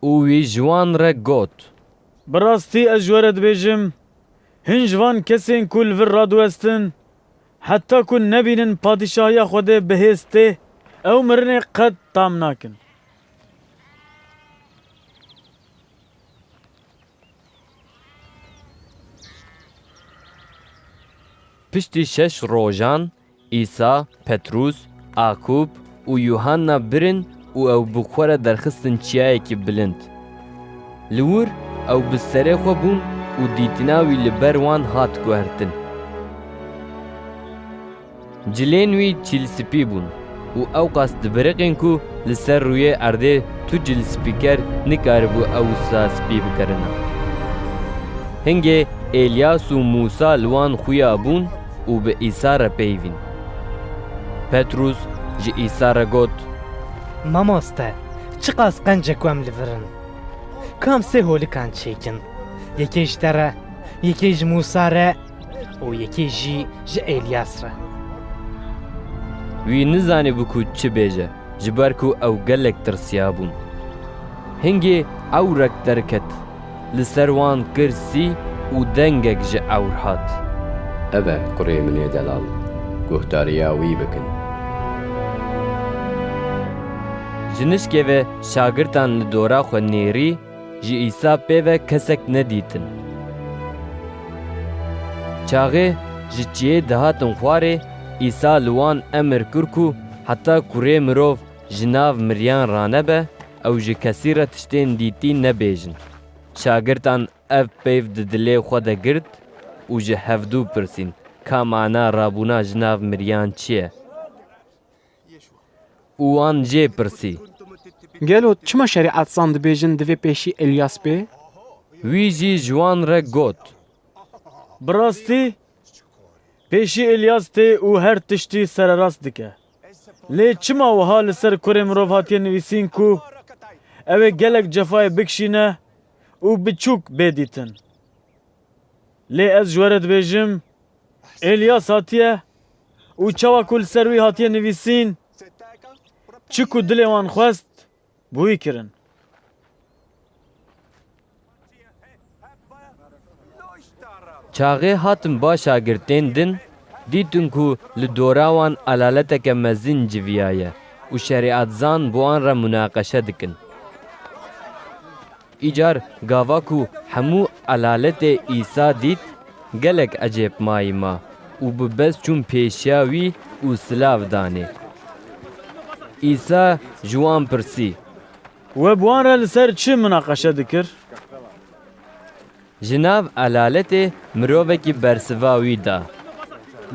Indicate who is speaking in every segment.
Speaker 1: û wî ji wan re got. Bi rastî ez ji we re dibêjim, hin ji van kesên ku li vir radiwestin, heta ku nebînin Padîşahiya Xwedê bi hêz tê, ew mirinê qet tam nakin. Piştî şeş rojan Îsa, Petrûs, Akûb û Yuhanna birin û ew bi xwe re derxistin çiyayekî bilind. Li wir ew bi serê xwe bûn û dîtina wî li ber wan hat guhertin. Cilên wî çîlspî bûn û ewqas dibiriqîn ku li ser rûyê erdê tu cilspîker nikaribû ew wisa spî bikerina. Hingê Elyas û Mûsa li wan xuya bûn, û bi Îsa re peyivîn. Petrûs ji Îsa re got, Mamoste, çiqas qenc e ku em li vir in. Ku em sê holikan çêkin, yekê ji te re, yekê ji Mûsa re û yekê jî ji Elyas re. Wî nizanîbû ku çi bêje, ji ber ku ew gelek tirsiyabûn. Hingê ewrek derket. Li ser wan kir sî û dengek ji ewr hat. Ev e kurê min ê delal. Guhdariya wî bikin. Ji nişkê ve şagirtan li dora xwe nêrî, ji Îsa pê ve kesek nedîtin. Çaxê ji çiyê dihatin xwarê, Îsa li wan emir kir ku heta kurê mirov Ji nav miriyan ranebe ew ji kesî re tiştên dîtî nebêjin. Şagirtan ev peyv di dilê xwe de girt û ji hevdû pirsîn, Ka mana rabûna ji nav miriyan çi ye? Û wan jê pirsî. Gelo çima şerîetzan dibêjin divê pêşî Îlyas bê? Wî jî ji wan re got. Bi rastî pêşî Îlyas tê û her tiştî sererast dike. Lê çima wiha li ser kurê mirov hatiye nivîsîn ku ew ê gelek cefayê bikişîne û biçûk bê dîtin. Lê ez ji we re dibêjim, Îlyas hatiye û çawa ku li ser wî hatiye nivîsîn, çi ku dilê wan xwest, Bûyî kirin. Çaxê hatin ba şagirtên din, dîtin ku li dora wan elaleteke mezin civiyaye û şerîatzan bi wan re munaqeşe dikin. Îcar gava ku hemû elaletê Îsa dît, gelek ecêb mayî ma û bi bez çûn pêşiya wî û silav danê. Îsa ji wan pirsî. We bi wan re li ser çi minaqeşe dikir? Ji nav elaletê mirovekî bersiva wî da.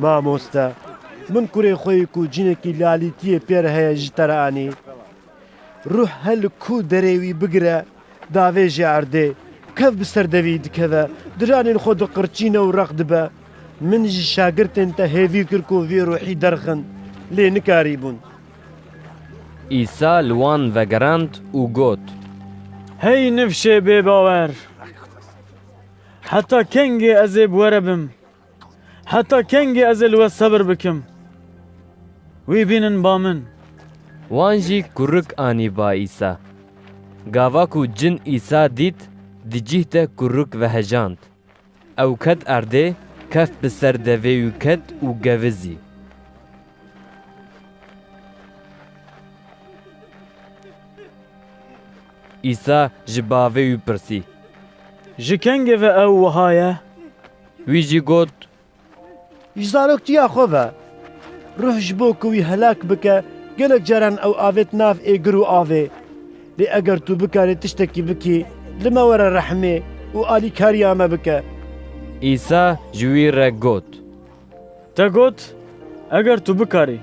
Speaker 1: Mamoste, min kurê xwe yê ku cinekî lalîtiyê pê re heye ji te re anî. Ruh her li ku derê wî bigire davêje erdê. Kev bi ser devî dikeve, diranên xwe diqirçîne û req dibe. Min ji şagirtên te hêvî kir ku vê ruhî derxin, lê nikarîbûn. Îsa li wan vegerand û got. Hey nifşê bêbawer! Heta kengê ez ê bi we re bim? Heta kengî ez ê li we sebir bikim? Wî bînin ba min. Wan jî kurik anî ba Îsa. Gava ku cin Îsa dît, di cîh de kurik vehejand. Ew ket erdê, keft bi ser devê û ket û gevizî. Îsa ji bavê wî pirsî. Ji kengê ve ew wiha ye? Wî jî got, Ji zaroktiya xwe ve ruh ji bo ku wî helak bike gelek caran ew avêt nav êgir û avê. Lê eger tu bikarî tiştekî bikî li me were rehmê û alîkariya me bike. Îsa ji wî re got, Te got, eger tu bikarî.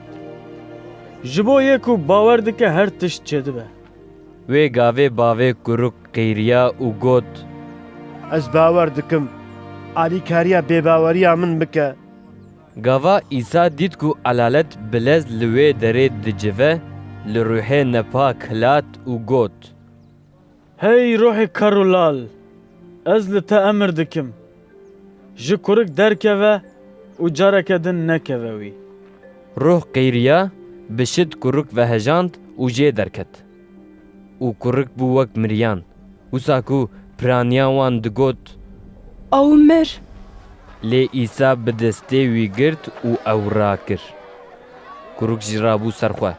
Speaker 1: Ji bo yê ku bawer dike her tişt çêdibe. Wê gavê bavê kuruk qîriya û got. Ez bawer dikim, alîkariya bêbaweriya min bike. Gava Îsa dît ku elalet bi lez li wê derê dicive, li ruhê nepak hilat û got. Hey ruhê kar û lal, ez li te emir dikim, Ji kurik derkeve û careke din nekeve wî. Ruh qeyriya, bi şid kurik vehejand û jê derket. Û kurik bû wek miriyan. Wisa ku piraniya wan digot. Ew mir! Lê Îsa bi destê wî girt û ew rakir. Kurik jî rabû ser xwe.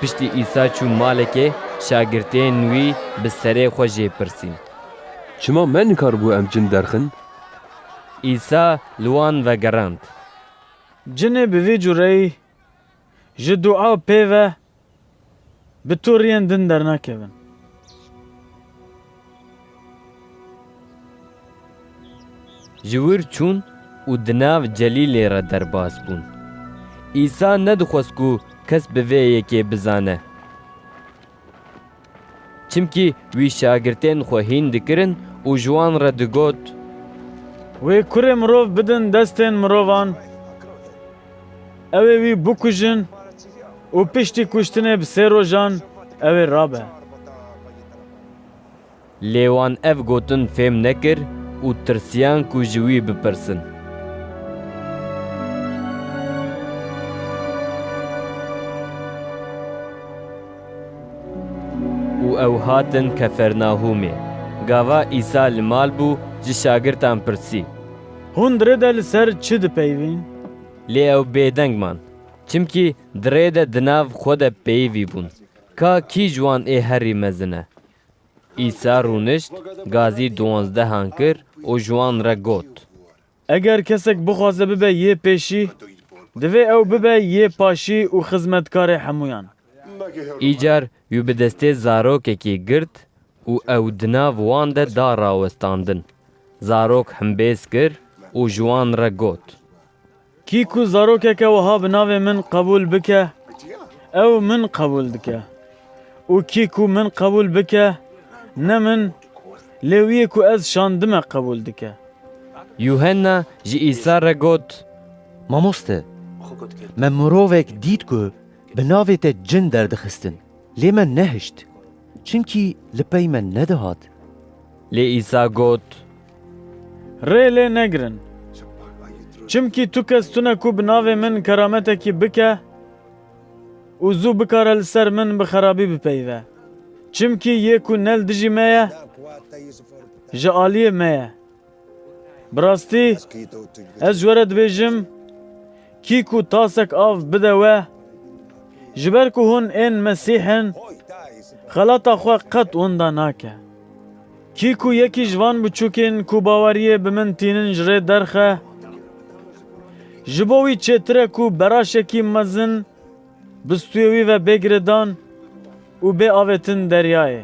Speaker 1: Piştî Îsa çû malekê, şagirtên wî bi serê xwe jê pirsîn. Çima me nikaribû em cin derxin? Îsa li wan vegerand. Cinê bi vê cureyî ji dua pê ve Bi toriyên din dernakevin. Ji wir çûn û di nav Celîlê re derbas bûn. Îsa nedixwest ku kes bi vê yekê bizane. Çimkî wî şagirtên xwe hîn dikirin û ji wan re digot. Wê Kurê Mirov bidin destên mirovan, ew ê wî bikujin û piştî kuştinê bi sê rojan ew ê rabe. Lê wan ev gotin fêm nekir û tirsiyan ku ji wî bipirsin. Û ew hatin Kefernahûmê. Gava Îsa li mal bû, ji şagirtan pirsî. Hûn dirê de li ser çi dipeyivîn? Lê ew bêdeng man, çimkî dirê de di nav xwe de peyivî bûn, ka kî ji wan ê herî mezin e. Îsa rûnişt, gazî diwanzdehan kir û ji wan re got. Eger kesek bixwaze bibe yê pêşî, divê ew bibe yê paşî û xizmetkarê hemûyan. Îcar wî bi destê zarokekî girt û ew di nav wan de da rawestandin. Zarok himbêz kir û ji wan re got. Kî ku zarokeke wiha bi navê min qebûl bike, ew min qebûl dike û kî ku min qebûl bike, ne min Lê wî yê ku ez şandime qebûl dike. Yuhenna ji Îsa re got, Mamoste, me mirovek dît ku bi navê te cin derdixistin, lê me nehişt, çimkî li pey me nedihat. Lê Îsa got. Rê lê negirin, çimkî tu kes tune ku bi navê min kerametekî bike. Û zû bikare li ser min bi xerabî bipeyve. Çimkî yê ku ne li dijî me ye, ji aliyê me ye. Bi rastî, ez ji we re dibêjim, kî ku tasek av bide we, ji ber ku hûn ên Mesîh in, xelata xwe qet wenda nake. Kî ku yekî ji van biçûkên ku baweriyê bi min tînin ji rê derxe, ji bo wî çêtir e ku beraşekî mezin bi stûyê wî ve bê girêdan û bê avêtin deryayê.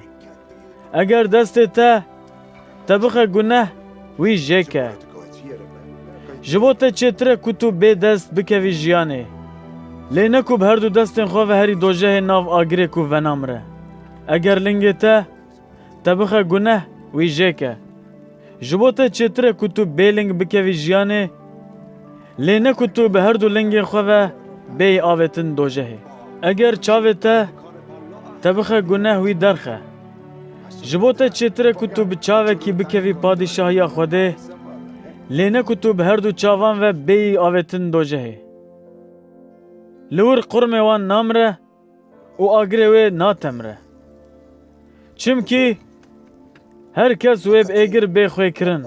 Speaker 1: Eger destê te te bixe guneh wî jê ke. Ji bo te çêtir e ku tu bê dest bikevî jiyanê. Lê ne ku bi herdu destên xwe ve herî dojehê nav agirê ku venamre. Eger lingê te Te bixe guneh wî jê ke. Ji bo te çêtir e ku tu bêling bikevî jiyanê, lê ne ku tu bi her du lingên xwe ve bêyî avêtin dojehê. Eger çavê te te bixe guneh wî derxe. Ji bo te çêtir e ku tu bi çavekî bikevî Padîşahiya Xwedê, lê ne ku tu bi her du çavan ve bêyî avêtin dojehê. Li wir qurmê wan namire, û agirê wê natemre. Çimkî her kes wê bi êgir bê xwê kirin.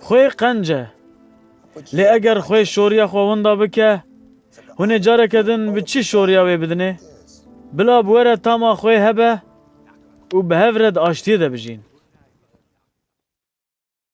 Speaker 1: Xwê qenc e. Lê eger xwê şoriya xwe winda bike, hûn ê careke din bi çi şoriya wê bidinê? Bila bi we re tama xwê hebe û bi hev re di aştiyê de bijîn.